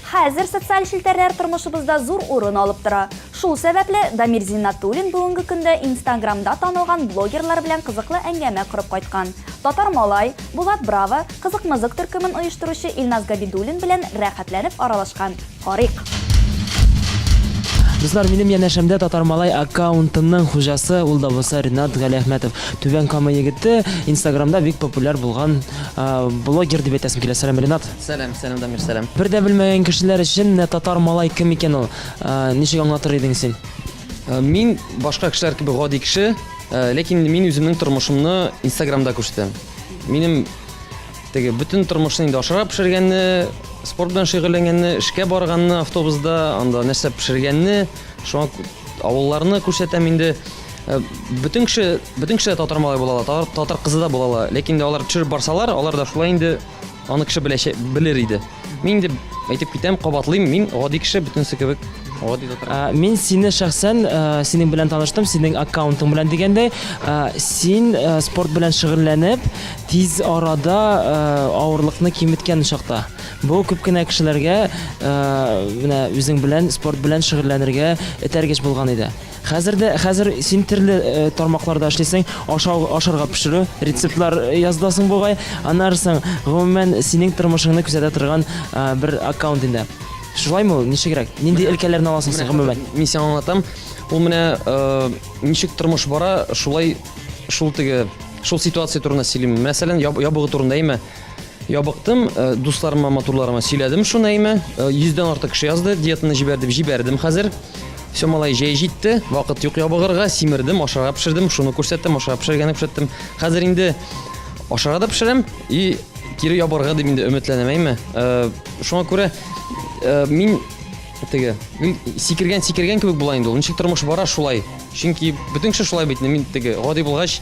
Хәзер социаль челтәрләр тормышыбызда зур урын алып тора. Шул сәбәпле, Дамир Зиннатуллин бүгенге көндә Инстаграмда танылган блогерлар белән кызыклы әңгәмә корып кайткан. Татар Малай, Булат Браво, Кызык-мызык төркемен оештыручы Илназ Габидуллин белән рәхәтләнеп аралашкан. Карыйк. Дуслар, минем янәшәмдә Татар Малай аккаунтының хуҗасы, ул да булса Ренат Галиәхмәтов. Түбән Кама егете, Инстаграмда бик популяр булган блогер дип әйтәсем килә. Сәлам, Ренат! Сәлам, сәлам Дамир, сәлам. Бер дә белмәгән кешеләр өчен менә татар малай кем икән ул? Э, Ничек аңлатыр идең син? Э, Мин башка кешеләр кебек гади кеше, э, ләкин мин үземнең тормышымны Инстаграмда күрсәтәм. Минем теге бөтен тормышны инде ашарга пешергәнне, спорт белән шөгыльләнгәнне, эшкә барганны автобуста, анда нәрсә пешергәнне, шуңа кү- авылларны күрсәтәм инде. Э, Бөтен кеше, бөтен кеше дә татар малай була ала, татар- татар кызы да була ала, ләкин инде алар төшереп барсалар, алар да шулай инде Аны кеше беләчәк, белер иде. Мин инде әйтеп китәм, кабатлыйм, мин гади кеше, бөтенесе кебек гади татар. А, Мин сине шәхсән э, синең белән таныштым, синең аккаунтың белән дигәндәй, э, син э, спорт белән шөгыльләнеп, тиз арада э, авырлыкны киметкән чакта. Бу күп кенә кешеләргә э, менә үзең белән спорт белән шөгыльләнергә этәргеч булган иде. Хәзер дә хәзер син терле э, тармакларда эшлисең, ашау, ашарга пешерү, рецептлар э, языласың бугай. Аннары соң, гомумән, синең тормышыңны күзәтә торган э, бер аккаунт инде. Шулаймы ул? Ничегрәк? Нинди өлкәләрне аласың син гомумән? Мин сиңа аңлатам. Ул менә э, ничек тормыш бара, шулай шул теге шул ситуация турында сөйлим. Мәсәлән, ябыгы турында име? Ябыктым, э, дусларыма, матурларыма сөйләдем шуны әйме. Э, йөздән артык кеше язды, диетаны җибәр дип җибәрдем хәзер. Все, малай, җәй җитте, вакыт юк ябыгырга, симердем, ашарга пешердем, шуны күрсәттем, ашарга пешергәнне күрсәттем. Хәзер инде ашарга да пешерәм и кире ябырга дип инде өметләнәм әйме. Э, шуңа күрә мин теге мин сикергән сикергән кебек була инде ул. Ничек тормыш бара шулай. Чөнки бөтен кеше шулай бит, мин теге гади булгач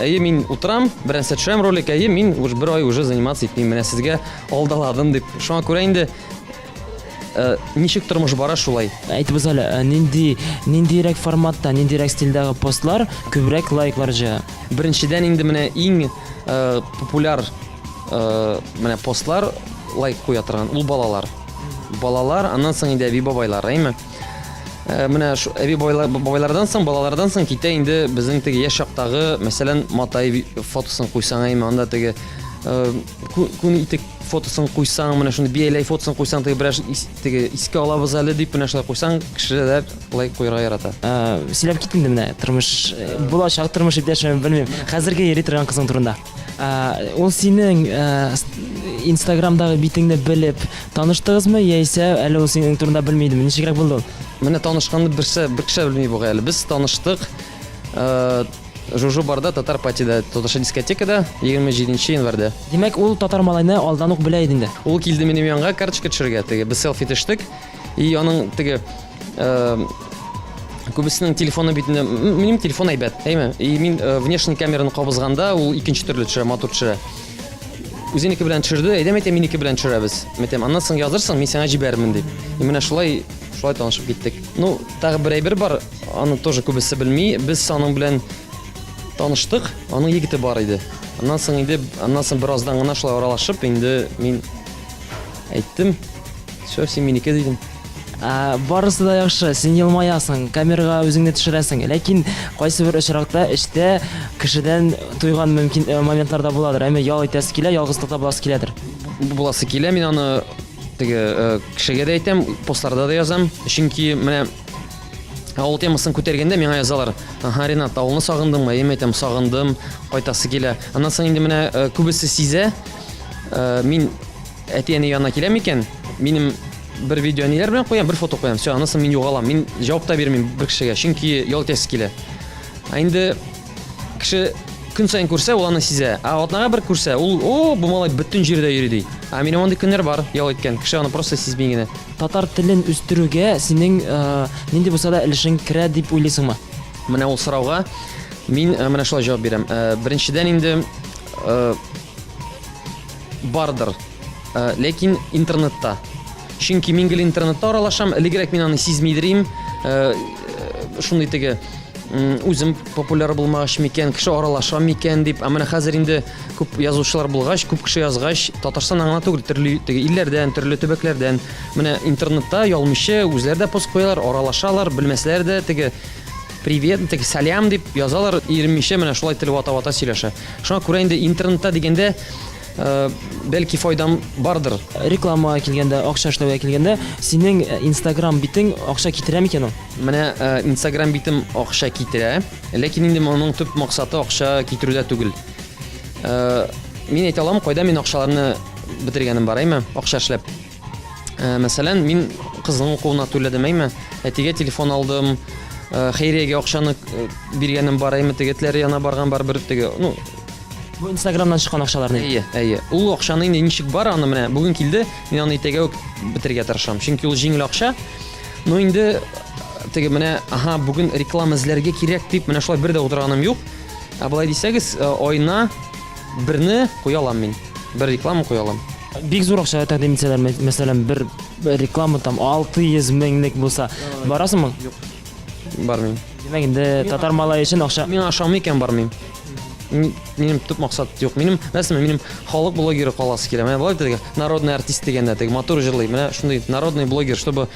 Әйе, мин утырам, берәрсә төшерәм ролик, әйе, мин уж бер ай уже заниматься итмим, менә сезгә алдаладым дип. Шуңа күрә инде э, ничек тормыш бара шулай. Әйтегез әле, ә, нинди ниндирәк форматта, ниндирәк стильдәге постлар күбрәк лайклар җыя? Беренчедән инде менә иң э, популяр э, менә постлар лайк куя торган ул балалар. Балалар, аннан соң инде әби бабайлар, әйме? Э, менә шу әби бабайлардан соң балалардан соң китә инде безнең теге яшь чактагы мәсәлән матай фотосын куйсаң әйме анда теге э, күн итек фотосын куйсаң менә шундый бияләй фотосын куйсаң теге бераз теге искә алабыз әле дип менә шулай куйсаң кешеләр лайк куярга ярата э, сөйләп кит инде менә тормыш булачак тормыш иптәшем белмим хәзерге йөри торган кызың турында Ул синең инстаграмдагы битеңне белеп таныштыгызмы яисә әле ул синең турында белми идеме? Ничегрәк булды ул? Менә танышканны берсе бер кеше белми бугай әле. Без таныштык. Жужу барда татар патида татарча дискотекада 27 январьда. Димәк, ул татар малайны алдан ук белә иде инде. Ул килде минем янга карточка төшергә. Теге без селфи төштек. И аның теге күбесенең телефоны бит минем телефон әйбәт әйме и мин э, внешний камераны кабызганда ул икенче төрле төшерә матур төшерә үзенеке белән төшерде әйдәм әйтә минеке белән төшерәбез әйтәм аннан соң язырсың мин сиңа җибәрермен дип и менә шулай шулай танышып киттек ну тагы бер әйбер бар аны тоже күбесе белми без аның белән таныштык аның егете бар иде аннан соң инде аннан соң бераздан гына шулай аралашып инде мин әйттем все син минеке дидем Ә, барысы да яхшы, син елмаясың, камерага үзеңне төшерәсең. Ләкин кайсы бер очракта эштә кешедән туйган мөмкин э, моментларда буладыр. Әмма ял итәсе килә, ялгызлыкта буласы киләдер. Буласы килә, мин аны теге э, кешегә дә әйтәм, постларда да язам. Чөнки менә авыл темасын күтәргәндә миңа язалар. Аха, Ренат, авылны сагындыңмы? Әйе, әйтәм, сагындым, кайтасы килә. Аннан соң инде менә э, күбесе сизә. Э, мин Әти-әни янына киләм икән, минем бер видео әниләр белән куям, бер фото куям. Все, анысын мин югалам. Мин җавап та бирмим бер кешегә, чөнки ял итәсе килә. Ә инде кеше көн саен күрсә, ул аны сизә. Ә атнага бер күрсә, ул, о, бу малай бөтен җирдә йөри ди. Ә минем андый көннәр бар, ял иткән. Кеше аны просто сизми генә. Татар телен үстерүгә синең э, нинди булса да өлешең керә дип уйлыйсыңмы? Менә ул сорауга мин э, менә шулай җавап бирәм. Э, Беренчедән инде э, Бардыр. Э, ләкин интернетта. Чөнки мин гел интернетта аралашам, элегрәк мин аны сизми идем. Э, шундый теге үзем популяр булмагач микән, кеше аралаша микән дип. Ә менә хәзер инде күп язучылар булгач, күп кеше язгач, Татарстан аңа түгел, төрле теге илләрдән, төрле төбәкләрдән. Менә интернетта ялмышы үзләре дә пост куялар, аралашалар, белмәсләр дә теге Привет, ну, теге сәлам дип язалар, иремичә менә шулай тел вата-вата сөйләшә. Шуңа күрә инде интернетта дигәндә э, бәлки файдам бардыр. Рекламага килгәндә, акча эшләүгә килгәндә, синең э, Instagram битең акча китерә микән ул? Менә э, Instagram битем акча китерә, ләкин инде моның төп максаты акча китерүдә түгел. Э, мин әйтә алам, кайда мин акчаларны бетергәнем бар, әйме? Акча эшләп. Э, мәсәлән, мин кызның укуына түләдем, әйме? Әтигә телефон алдым, э, хәйриягә акчаны э, биргәнем бар, әйме? Тегетләр яна барган бар бер теге. Ну, бу Инстаграмнан чыккан акчаларны. Әйе, әйе. Ул акчаны инде ничек бар, аны менә бүген килде, мин аны итәгә үк бетергә тырышам. Чөнки ул җиңел акча. Ну, инде теге менә, ага, бүген реклама эзләргә кирәк дип, менә шулай бер дә утырганым юк. Ә болай дисәгез, айна Берне куя алам мин. Бер реклама куя алам. Бик зур акча тәкъдим итсәләр, мәс- мәсәлән, бер реклама там 600 меңлек булса, барасыңмы? Бармыйм. Димәк, инде татар малае өчен акча. Миңа ошамый икән бармыйм. Ми- Минем төп максат юк. Минем нәрсәме? Минем халык блогеры каласы килә. Менә болай диде, народный артист дигәндә, теге матур җырлый. Менә шундый народный блогер, чтобы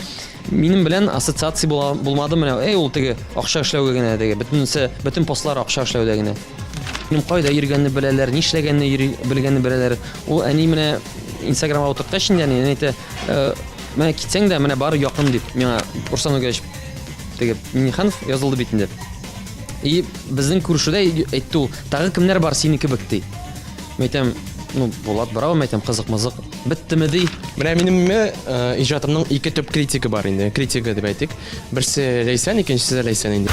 минем белән ассоциация була, булмады менә. Эй, ул теге акча эшләүгә генә теге. Бөтенесе, бөтен постлар акча эшләүдә генә. Минем кайда йөргәнне беләләр, нишләгәнне йөри, белгәнне беләләр. Ул әни менә Инстаграмга утырткач инде әни әни әйтә, «Э, менә китсәң дә, менә бар якын дип, миңа Руслан Үгәч теге Миниханов язылды бит инде. И безнең күршедә әйтте ул, тагы кемнәр бар синең кебек ди. Мин әйтәм, ну, Булат Барау, мин әйтәм, кызык-мызык. Беттеме ди. Менә минем э, иҗатымның ике төп критигы бар инде. Критигы дип әйтик. Берсе Ләйсән, икенчесе дә Ләйсән инде.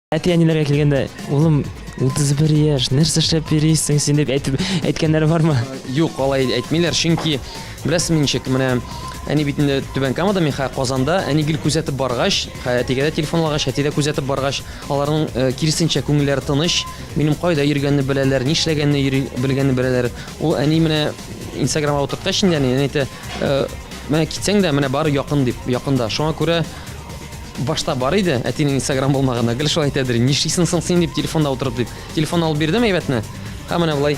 Әти-әниләргә килгәндә, улым, 31 яшь, нәрсә эшләп йөрисең син дип әйтеп әйткәннәре бармы? Юк, алай әйтмиләр, чөнки беләсезме ничек, менә әни бит инде Түбән Камада, мин хәзер Казанда, әни гел күзәтеп баргач, хәзер әтигә дә телефон алагач, әти дә күзәтеп баргач, аларның э, киресенчә күңелләре тыныч, минем кайда йөргәнне беләләр, нишләгәнне йөри, белгәнне беләләр. Ул әни менә Инстаграмга утырткач инде әни әни әйтә, «Э, менә китсәң дә, менә бары якын дип, якында. Шуңа күрә башта бар иде әтинең инстаграм булмаганда гел шулай әйтә дери нишлисең соң син дип телефонда утырып дип телефон алып бирдем әйбәтне һәм менә болай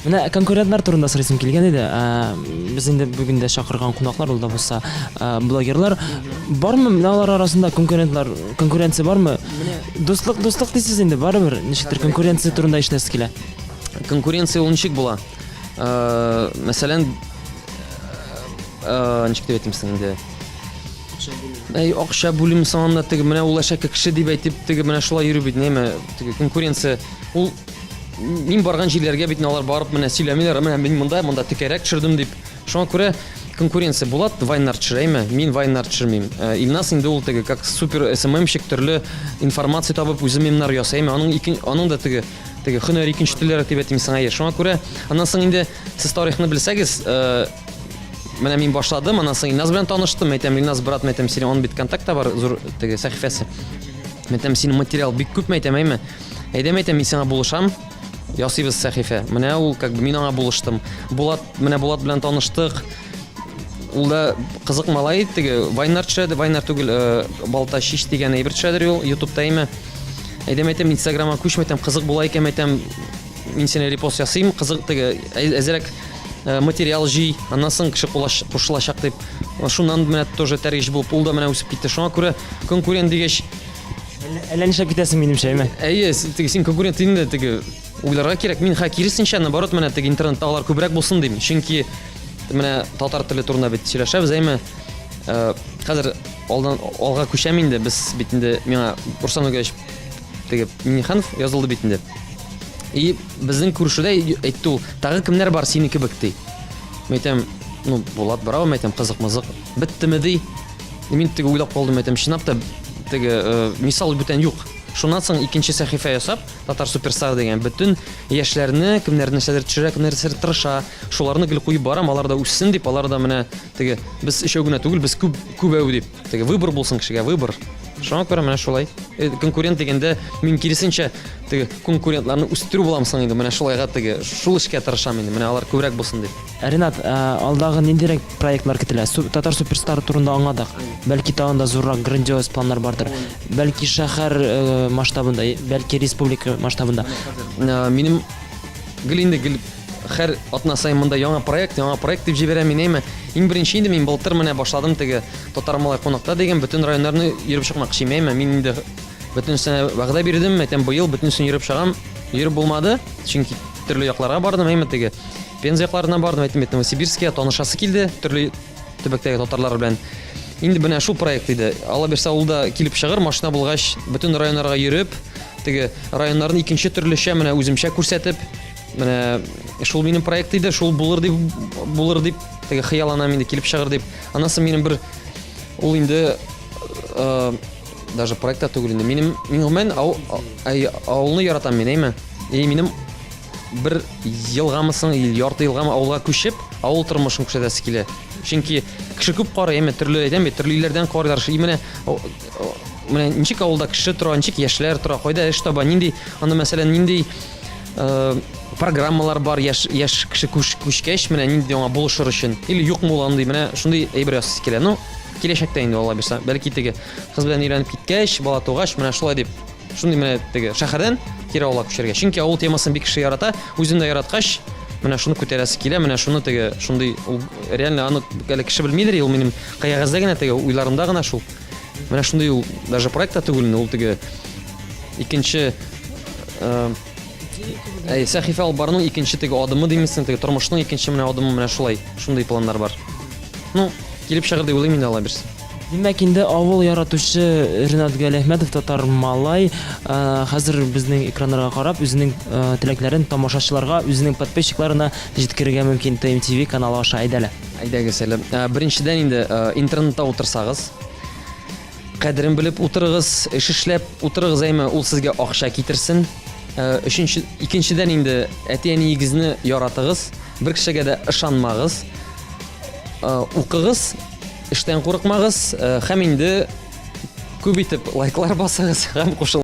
менә конкурентлар турында сорыйсым килгән иде без инде бүген дә чакырган кунаклар ул да булса блогерлар бармы менә алар арасында конкурентлар конкуренция бармы дуслык дуслык дисез инде барыбер ничектер конкуренция турында ишетәсе килә конкуренция ул ничек була мәсәлән ничек дип әйтимсең инде акча бүлү әй акча бүлү санында теге менә ул әшәке кеше дип әйтеп теге менә шулай йөрү бит неме теге конкуренция ул мин барган җирләргә бит алар барып менә сөйләмиләр менә мин монда монда текәрәк төшердем дип шуңа күрә конкуренция булат вайннар төшерәме мин вайннар төшермим э, илнас инде ул теге как супер сммщик төрле информация табып үзе мемнар ясаймы аның ике аның да теге теге һөнәр икенче телләре дип әйтим сиңа шуңа күрә аннан соң инде сез тарихны белсәгез э, Менә мин башладым, аннан соң Илназ белән таныштым. Әйтәм, Илназ, брат, мәйтәм, сине он бит контакта бар, зур теге сәхифәсе. Мәйтәм, синең материал бик күп, мәйтәм, әйме. Әйдәм, әйтәм, мин сиңа булышам. Ясыйбыз сәхифә. Менә ул, как бы, мин аңа булыштым. Булат, менә Булат белән таныштык. Ул да кызык малай, теге Вайнар төшәде, Вайнар түгел, э, Балта шиш дигән әйбер төшәдер ул YouTube-та әйме. Әйдәм, әйтәм, Инстаграмга күчмәйтәм, кызык була икән, әйтәм, мин сине репост ясыйм, кызык теге әзерәк Э, материал җый, аннан соң кеше кушылачак дип. Шуннан менә тоже тәргеш булып, ул да менә үсеп китте. Шуңа күрә конкурент дигәч, әллә нишләп китәсең минемчә, әйме? Әйе, теге син конкурент инде теге уйларга кирәк. Мин хә киресенчә, наоборот, менә теге интернеттагылар күбрәк булсын дим. Чөнки менә татар теле турында бит сөйләшәбез, әйме? Э, хәзер алдан алга күчәм инде, без бит инде миңа Руслан Үгәч теге миниханов язылды бит инде и безнең күршедә әйтте ул тагы кемнәр бар сине кебек ди мен әйтәм ну булат браво мен әйтәм кызык мызык беттеме ди мин теге уйлап калдым әйтәм чынлап та теге э, мисал бүтән юк шуннан соң икенче сәхифә ясап татар суперстар деген бөтен яшьләрне кемнәр нәрсәдер төшерә кемнәр нәрсәдер тырыша шуларны гел куеп барам алар да үссен дип алар да менә Теге, без өчәү генә түгел, без күп, күбәү дип. Теге, выбор булсын кешегә, выбор. Шуңа күрә менә шулай. Э, конкурент дигәндә мин киресенчә теге конкурентларны үстерү булам соң инде. Менә шулайга теге шул эшкә тырышам инде. Менә алар күбрәк булсын дип. Ә, Ренат, ә, алдагы ниндирәк проектлар көтелә? Су, татар суперстары турында аңладык. Бәлки тагын да зуррак грандиоз планнар бардыр. Бәлки шәһәр э, масштабында, бәлки республика масштабында. Ә, Минем гел инде гел Хәр атна саен монда яңа проект, яңа проект дип җибәрә мин, әйме. Иң беренче инде мин былтыр менә башладым теге Татар малай кунакта дигән бөтен районнарны йөреп чыкмакчы, әйме. Мин инде бөтенесенә вәгъдә бирдем, әйтәм, быел бөтенесен йөреп чыгам. Йөреп булмады, чөнки төрле якларга бардым, әйме теге. Пенза якларына бардым, әйтәм, әйтәм, Сибирския танышасы килде, төрле төбәктәге татарлар белән. Инде менә шул проект иде. Алла бирсә, ул да килеп чыгыр, машина булгач, бөтен районнарга йөреп, теге районнарны икенче төрлечә менә үземчә күрсәтеп, Менә шул минем проект иде, шул булыр дип булыр дип теге хыяланам инде килеп чыгыр дип. Анасы минем бер ул инде э, даже проектта түгел инде. Минем мин гомумән ау, авылны яратам мин, әйме? И минем бер елгамы соң, ярты елгамы авылга күчеп, авыл тормышын күрсәтәсе килә. Чөнки кеше күп карый, әйме, төрле әйтәм бит, төрле илләрдән карыйлар. И менә менә ничек авылда кеше тора, ничек яшьләр тора, кайда эш таба, нинди, аны мәсәлән, нинди Э, программалар бар яш яш кеше күш, күшкәч менә нинди аңа булышыр өчен или юк мул андый менә шундый әйбер ясыйсы килә ну киләчәктә инде алла бирса бәлки теге кыз белән өйләнеп киткәч бала тугач менә шулай дип шундый менә теге шәһәрдән кире авылга күчәргә чөнки авыл темасын бик кеше ярата үзен дә яраткач менә шуны күтәрәсе килә менә шуны теге шундый ул реально аны әле кеше белмидер ул минем кыягәздә генә теге уйларымда гына шул Менә шундый ул даже проект та түгел инде, ул теге икенче э, Әй, сәхифә алып баруның икенче теге адымы димисең, теге тормышның икенче менә адымы менә шулай. Шундый планнар бар. Ну, килеп чыгыр дип уйлыйм инде алла бирсә. Димәк инде авыл яратучы Ренат Галиәхмәтов татар малай ә, хәзер безнең экраннарга карап үзенең ә, теләкләрен тамашачыларга, үзенең подписчикларына җиткерергә мөмкин ТМТВ каналы аша әйдәле. Әйдәгез әле, беренчедән инде интернетта утырсагыз, кадерен белеп утырыгыз, эш эшләп утырыгыз, әйме, ул сезгә акча китерсен. Өченче, икенчедән инде әти-әниегезне яратыгыз, бер кешегә дә ышанмагыз. Укыгыз, эштән курыкмагыз, һәм инде күп итеп лайклар басыгыз һәм кушыл.